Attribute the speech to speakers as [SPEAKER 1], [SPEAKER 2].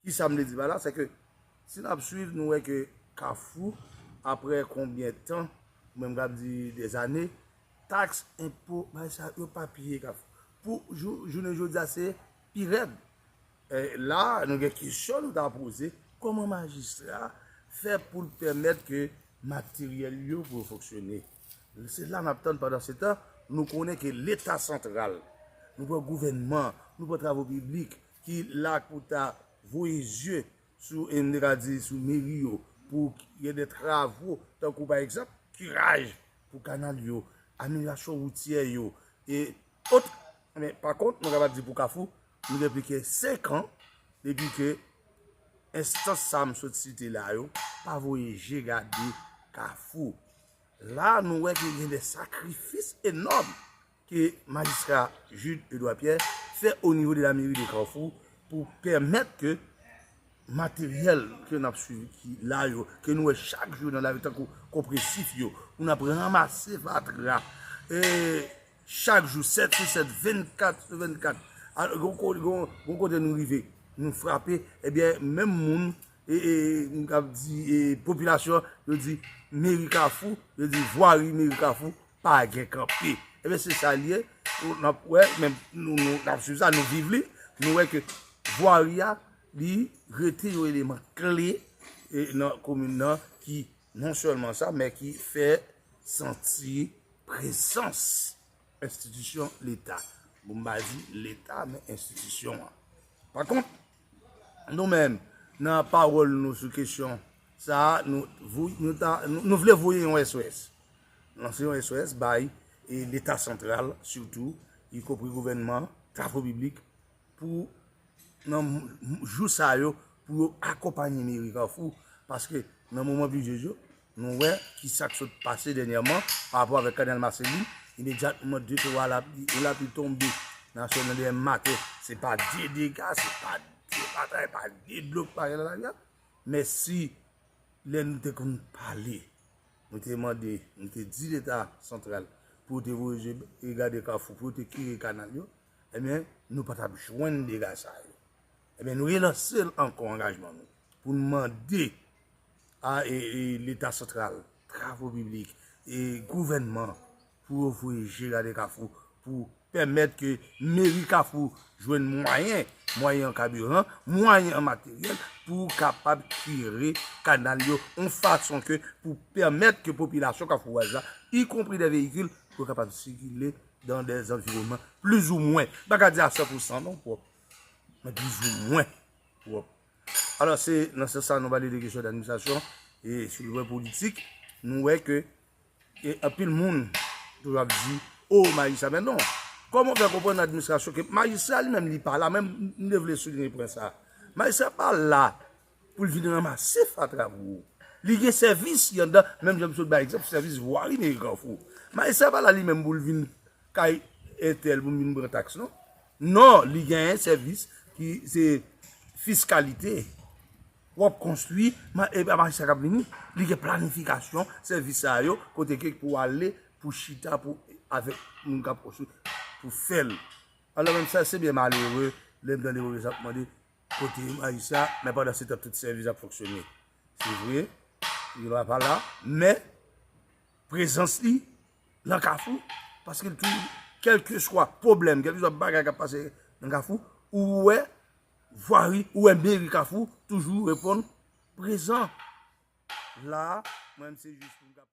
[SPEAKER 1] Ki sa m vle di pa la, se ke si n ap swiv nou wè ke kafou apre konbyen tan, mwen m kab di des ane, taks, enpo, bay sa yo pa piye kafou. Pou jounen jodi a se pi rèd. La nou gen kesyon nou ta poze, koman majistra fè pou l pèmèt ke materyèl yo pou yo fonksyone. Se la nap tann pandan se tan nou konnen ke leta santral, nou pran gouvènman, nou pran travo piblik ki la pou ta voye zye sou m te ka di sou meri yo pou gen de travo tankou pa egzanp kiraj pou kanal yo, amelyasyon woutyè yo e ot. Men pa kont mwen kapab di pou kafou nou gen plis ke 5 an depi ke enstans sa m sot site la yo pa voye je gade kafou. La a nou wè ke gen de sakrifis enòm ke majistra Jude Edouard Pierre fè o nivo de la meri de Kafou pou pèmèt ke materyèl ke nap swivi ki la yo, ke nou wè chak jou nan lari tankou konpresif yo, pou nap ranmase fatra, e chak jou 7 sou 7, 24 sou 24, gon kote nou rive, nou frape, ebyen menm moun Mkab di popilasyon yo di meri kafou yo di vwari meri kafou pa gen kanpe ebe se sa liye ou nap wè men nou nou nap sou sa nou viv li nou wè ke vwari a li rete yo eleman kle e nan komin nan ki non selman sa men ki fè santi presans enstitisyon leta bon mba di leta men enstitisyon an pa kont Nou menm, nan pawòl nou sou kesyon sa a, nou vle voye yon SOS, lanse yon SOS bay Leta santral sitou, yikopri gouvènman, travo piblik, pou nan jou sa yo, pou yo akonpanye meri Kafou, paske nan moman plijye yo, Nou wè ki sa k sot pase dènyèman pa rapò avèk kanal Maseli, imedyatman de twa lapli, yon lapli tonbe nan sèl nan dèyè maten, se pa de dega, se pa de batay, pa de dlo k pare nan lari a. Mèsi lè nou te konn pale, nou te mande, nou te di leta santral pou yo te voye je gade kafou, pou yo te kire kanal yo, enben nou pa t ap jwenn dega sa yo. Enben nou relanse ankò angajman nou pou nou mande A Leta santral, travo piblik, gouvènman pou yo voye je gade Kafou pou pèmèt ke meri Kafou jwenn mwayen, mwayen an kabiran, mwayen an materyèl pou kapab kire kanal yo yon fason ke pou pèmèt ke popilasyon kafouwaz la, y konpri de veyikil, pou kapab sikile dan de zanviwonman plizoumwen, m pa ka di a 100 pousan non pwòp, men plizoumwen pwòp. Alò se nan sans sa nou pale de kesyon d'administrasyon e sou le plan politik nou wè ke anpil moun toujou ap di o majistra men non kòman w fè konprann nan administrasyon ke majistra li menm li pa la men m te vle soulinye pwen sa majistra pa la pou l vin ranmase fatra pou ou li gen sèvis li anndan menm jan m sot bay egzanp sèvis vwari meri Kafou majistra pa la li menm pou l vin kay entèl pou l vin pran taks non. Non, li gen yon sèvis ki se fiskalite. W ap konstwi, e pa majistra k ap vini. Li gen planifikasyon sèvis sa yo, kote ke pou ale, pou chita, pou avèk moun k ap konstwi, pou fè l. Alò menm sa, se byen malere, lè m tande moun sa ap mande, kote majistra, men pandan se tan tout sèvis ap fonksyone. Se vre, li la pa la, men, prezans li nan kafou, paske l toujou, kelke swa pwoblèm, kelke swa bagay kap pase nan kafou, ou wè vwari, ou wè meri kafou, toujou reponn prezan. La, mwen m se jis pou m kapab.